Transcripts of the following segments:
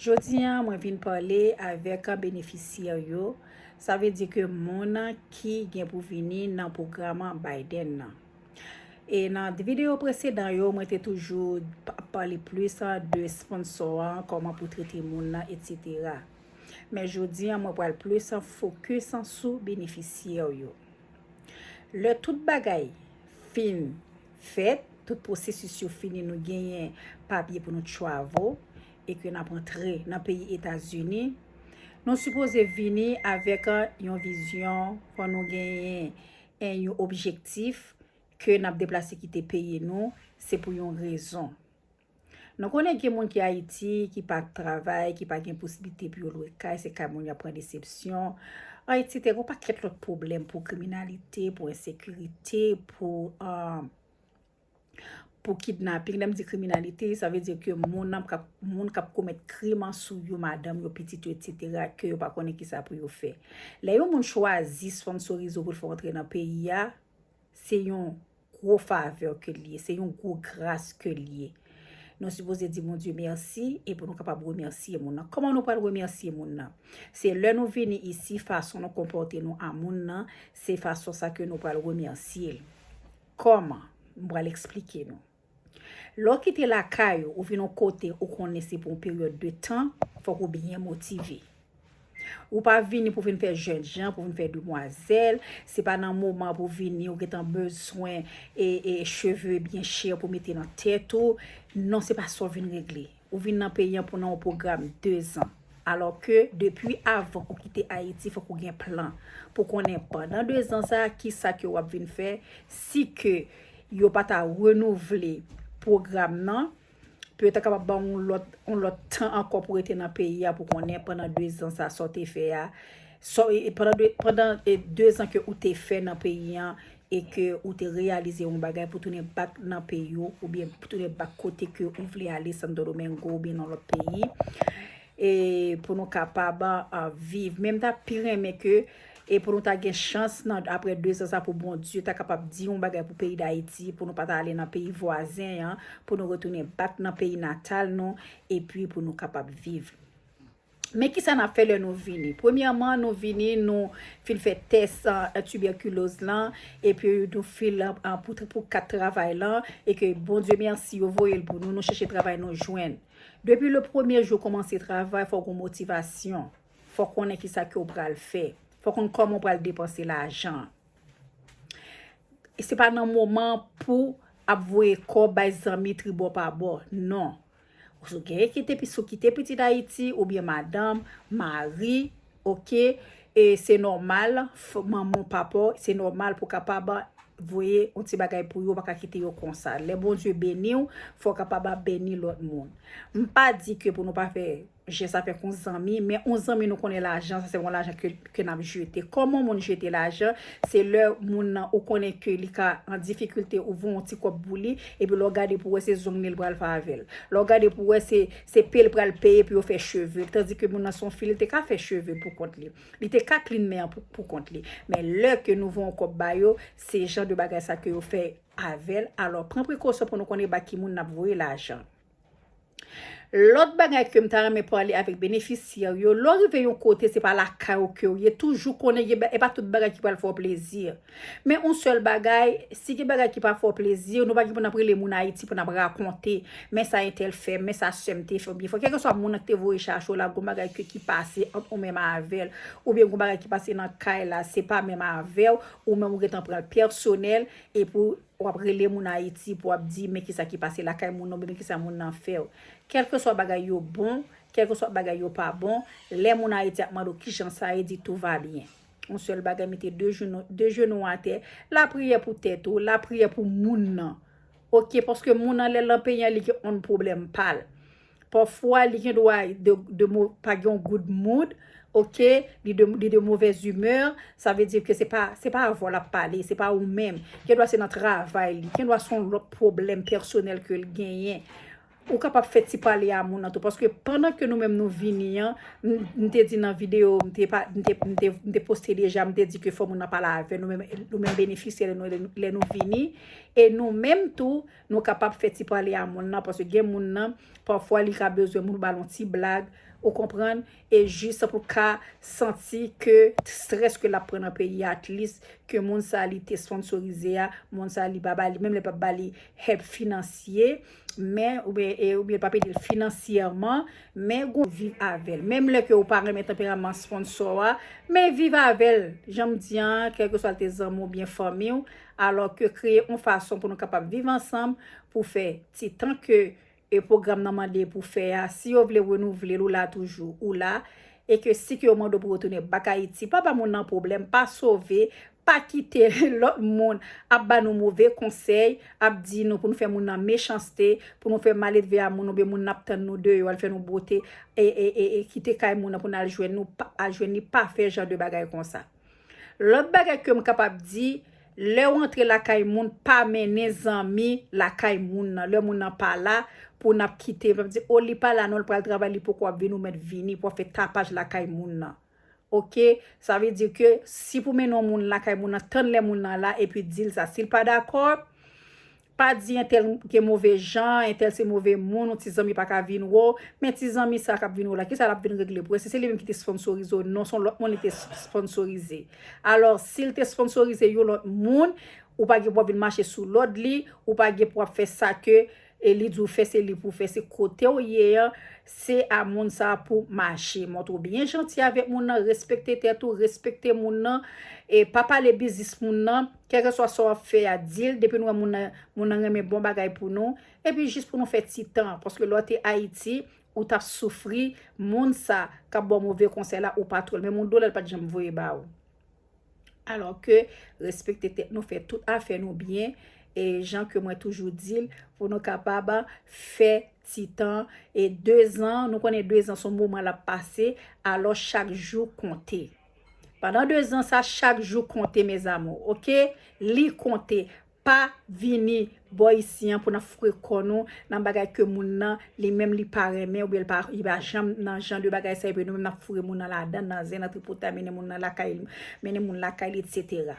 Jodi an mwen vin pale avèk benefisyè yo, sa vle di ke moun ki gen pou vini nan pwogram Biden nan. E nan videyo presedan yo mwen te toujou pale plis de sponsò an, kòman pou trete moun nan, etsetera. Men jodi an mwen pral plis fokis sou benefisyè yo. Lè tout bagay fin. fèt, tout pwosesis yo fini nou genyen papye pou nou travo e ke nap antre nan peyi Etazini. Nou sipoze vini avèk yon vizyon pou nou genyen en yon objektif ke nap deplase kite peyi nou se pou yon rezon. Nou konnen gen moun ki Ayiti, ki pa travay, ki pa gen posiblite pou yo lwe kay, se kay moun y ap pran desepsyon, etsete Gon pakèt lòt pwoblèm pou kriminalite, pou ensekirite, pou pou kidnaping Lè m di kriminalite, sa vle di ke moun an kap moun k ap komèt krim an sou yo, madanm yo, pitit yo etsetera ke yo pa konnen ki sa pou yo fè Lè yon moun chwazi sponnsorize w pou l fè w antre nan peyi a, Se yon gwo favè ke li ye, se yon gwo gras ke li ye. Nou sipoze di Bondye mèsi e pou nou kapab remèsye moun nan. Kòman nou pral remèsye moun nan? Se lè nou vini isi, fason nou konpòte nou a moun nan, se fason sa ke nou pral remèsye l. Kòman? M pral eksplike nou. Lè w kite lakay ou, ou vin yon kote ou konnen se pou yon peryòd de tan, fòk ou byen motive. Ou pa vini pou vin fè jènjan, pou vin fè demwazèl, se pa nan moman pou vini ou gentan bezwen cheve byen chè pou mete nan tèt ou, non se pa sa w vin regle. Ou vin nan peyi an pou nan yon pwogram 2 zan. Alò ke depi avan ou kite Ayiti fòk ou gen plan pou konnen pandan 2 zan sa a ki sa ke w ap vin fè si ke yo pa ta renouvle pwogram nan pou yo ta kapab ba w yon lòt yon lòt tan ankò pou rete nan peyi a pou konnen pandan 2 zan sa a sa w te fè a pandan 2 zan ke ou te fè nan peyi an e ke ou te reyalize yon bagay pou tounen bak nan peyi w, oubyen pou tounen bak kote ke ou vle ale Santo Domingo oubyen nan lòt peyi, e pou nou kapab viv, men m ta pi renmen ke e pou nou ta gen chans nan apre 2 zan sa pou Bondye ta kapab di yon bagay pou peyi Dayiti, pou nou pa ta ale nan peyi vwazen an, pou nou retounen bak nan peyi natal nou, epi pou nou kapab viv. Men ki sa n ap fè lè nou vini. Premyèman, nou vini, nou fin fè tès tibèkiloz lan, epi nou fil pou kat travay lan, e ke Bondye mèsi, yo voye l pou nou, nou chèche travay, nou jwenn. Depi le premye jou ou kòmanse travay, fò w gen motivasyon, fò w konnen ki sa ke w pral fè, fò w konnen kòman w pral depanse lajan an. Se pa nan moman pou ap voye kòb bay zanmi tribò pa bò, non. Sou genyen ki te sou ki te pitit Ayiti ou byen madanm, mari, ok, e se nòmal fò manman papa se nòmal pou kapab voye yon ti bagay pou yo pa ka kite yo konsa. Lè Bondye beni ou, fò kapab ap beni lòt moun. M pa di ke pou nou pa fè je sa fè kon zanmi men on zanmi nou konnen lajan sa se yon lajan ke n ap jete kòman moun jete lajan se lè moun nan ou konnen ke li ka an difikilte ou voye yon ti kòb pou li epi lè w gade pou wè se zong li l pral fè avè l lè w gade pou wè se pe l pral peye pou yo fè cheve l tandi ke moun nan se yon fi li te ka fè cheve pou kont li li te ka klin men an pou kont li men lè ke nou voye yon kòb ba yo se jan de bagay sa ke yo fè avè l alò pran prekosyon pou nou konnen ba ki moun n ap voye lajan. Lòt bagay ke m ta renmen pale avèk benefisyè w yo, lè w rive yon kote se pa lakay ou ke w ye, toujou konnen gen bagay, e pa tout bagay ki pral fè w plezi. Men yon sèl bagay, si gen bagay ki pa fè w plezi, nou pa gen pou n ap rele moun Ayiti pou n ap rakonte, men sa entèl fè m, men sa sè m te fè m, oubyen fò kèlkeswa moun nan ki te voye chache w la, gen yon bagay ke ki pase ant ou menm avè l, oubyen gen yon bagay ki pase nan kay la, se pa menm avè w, ou menm ou gen tan pran l pèsonèl, epi w. W ap rele moun Ayiti pou w ap di men kisa ki pase lakay moun nan oubyen men kisa moun nan fè w. Kèlkeswa bagay yo bon, kèlkeswa bagay yo pa bon, lè moun Ayiti ap mande w kijan sa ye, di tout va bien. Yon sèl bagay mete de jenou w atè, lapriyè pou tèt ou, lapriyè pou moun nan. Ok, paske moun nan lè l nan peyi an li gen on pwoblèm pa l. Pafwa li gen dwa pa gen yon good mood ok li de mauvaise humeur sa vle di ke se pa avè w lap pale se pa ou menm gen dwa se nan travay li gen dwa se yon lòt pwoblèm pèsonèl ke li genyen ou kapab fè ti pale a moun nan tou paske pandan ke nou menm nou vini an m te di nan video m te poste deja m te di ke fò moun nan pale avè nou menm nou menm benefisyè lè nou vini e nou menm tou Nou kapab fè ti pale a moun lan paske gen moun nan pafwa li ka bezwen moun ba l yon ti blag ou konprann e jis pou l ka santi ke strès ke l ap pran nan peyi a at least ke moun sa li te sponsorize a moun sa li pa ba li menm lè l pa ba li hèp finansye men oubyen e oubyen l pa ede l finansyèman men gon viv avè l menm lè ke ou pa renmen tanperaman sponsò a men viv avè l jan m di an kèlkeswa l te zanmi w oubyen fanmi w. alò ke kreye on fason pou nou kapab viv ansanm pou fè ti tan ke e pwogram nan mande pou fè a, si yo vle renouvle l ou la toujou, ou la, e ke si ke yo mande w pou retounen bak Ayiti, pa ba moun nan pwoblèm, pa sove, pa kite lòt moun ap ba nou move konsèy, ap di nou pou nou fè moun nan mechanste, pou nou fè maledve a moun oubyen moun nan ap tann nou deyò al fè nou bote e e e kite kay moun nan pou n al jwenn nou, pa al jwenn li, pa fè jan de bagay konsa. Lòt bagay ke m kapab di, lè w antre lakay moun, pa mennen zanmi lakay moun nan. Lè moun nan pa la, pou n ap kite, pou n ap di, o li pa la non, li pral travay, li poko ap vini, ou mèt vini pou ap fè tapaj lakay moun nan. Ok, sa vle di ke, si pou mennen yon moun lakay moun nan, tann lè moun nan la, epi di l sa. Si l pa dakò, Pa di entèl gen move jan, entèl se move moun, yon ti zanmi pa ka vin wè w. Men ti zanmi sa a k ap vin wè w la, ki sa l ap vin regle pou w? Èske se li menm ki te sponsorize w? Non, se yon lòt moun li te sponsorize. Alò, si l te sponsorize yon lòt moun, ou pa gen pou w ap vin mache sou lòd li, ou pa gen pou w ap fè sa ke li di w fè, se li pou w fè. Se kote w ye an, se a moun sa a pou w mache. Montre w byen janti avèk moun nan, respekte tèt ou, respekte moun nan, e pa pale biznis moun nan. Kèlkeswa sa w ap fè a, di l depi nou wè moun nan moun nan renmen bon bagay pou nou, epi jis pou nou fè ti tan, paske lè w te Ayiti, ou t ap soufri, moun sa k ap ba w move konsèy la, ou pa twè l, menm yon dola l pa t janm voye ba ou. Alò ke, respekte tèt nou, fè tout afè nou byen, e jan ke mwen toujou di l, pou nou kapab fè ti tan, e dezan, nou konnen dezan s on moman l ap pase, alò chak jou konte. Pandan 2 zan sa chak jou konte mes amours ok li konte pa vini bò isi an pou nan fre kò nou nan bagay ke moun nan li menm li pa renmen oubyen li pa li pa janm nan jan de bagay sa epi nou menm nap foure moun nan ladan nan zen nan tripotay mennen moun nan lakay mennen moun lakay li etc.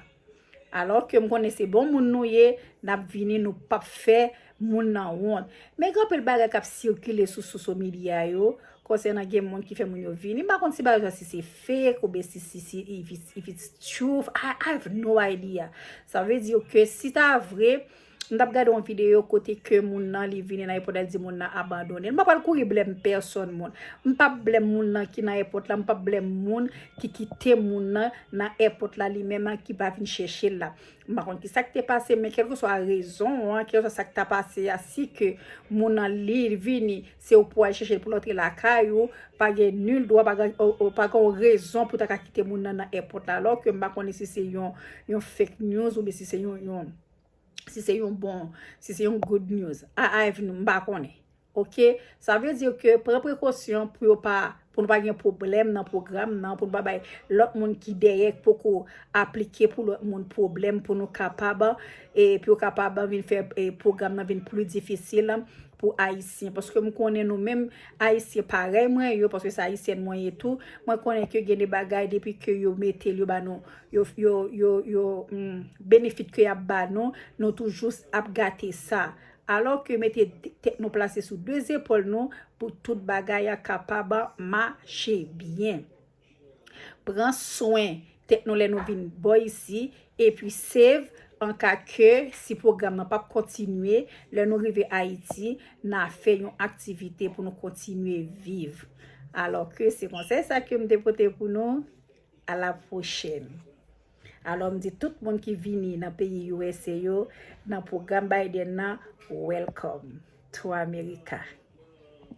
Alò ke m konnen se bon moun nou ye, n ap vini nou p ap fè moun nan wont. Men gen anpil bagay k ap sikile sou soso medya yo, konsènan gen moun ki fè moun yo vini. M pa konn si bagay sa si se fake ou byen si si if it's truth, I have no idea. Sa vle di yo ke si ta vre, M tap gade yon video kote ke moun nan li vini nan èpòt la di moun nan abandonel. M pa pral kouri blèm pèsòn moun. M pap blèm moun nan ki nan èpòt la. M pap blèm moun ki kite moun nan nan èpòt la li menm an ki pa vin chèche l la. M pa konn ki sak te pase men kèlke swa rezon an, kèlke swa sak ta pase a si ke moun nan li vini se ou pou al chèche l pou l antre lakay ou pa gen nul dwa pa gen ou pa gen yon rezon pou ta ka kite moun nan nan èpòt la. Lò ke m pa konnen si se yon fake news ou byen si se yon yon. si se yon bon, si se yon good news. A avni nou, m pa konnen. Ok, sa vle di ke pran prekosyon pou yo pa, pou nou pa gen pwoblèm nan pwogram nan, pou nou pa bay lòt moun ki dèyè k poko aplike pou lòt moun pwoblèm pou nou kapab, e pou yo kapab vin fè pwogram nan vin pli difisil. pou ayisyen paske m konnen nou menm ayisyen parèy mwen yo paske se ayisyèn mwen ye tou mwen konnen ke gen de bagay depi ke yo mete l yo ba nou yo yo yo yo benefit ke y ap ba nou nou toujou ap gate sa alò ke mete tèt nou plase sou de zepòl nou pou tout bagay a kapab mache byen. Pran swen tèt nou lè nou vin bò isi epi save anka ke si pwogram nan pap kontinye lè nou rive Ayiti na fè yon aktivite pou nou kontinye viv. Alò ke se konsèy sa ke m te pote pou nou. A la pwochèn. Alò m di tout moun ki vini nan peyi usa yo nan pwogram Biden nan welcome to America.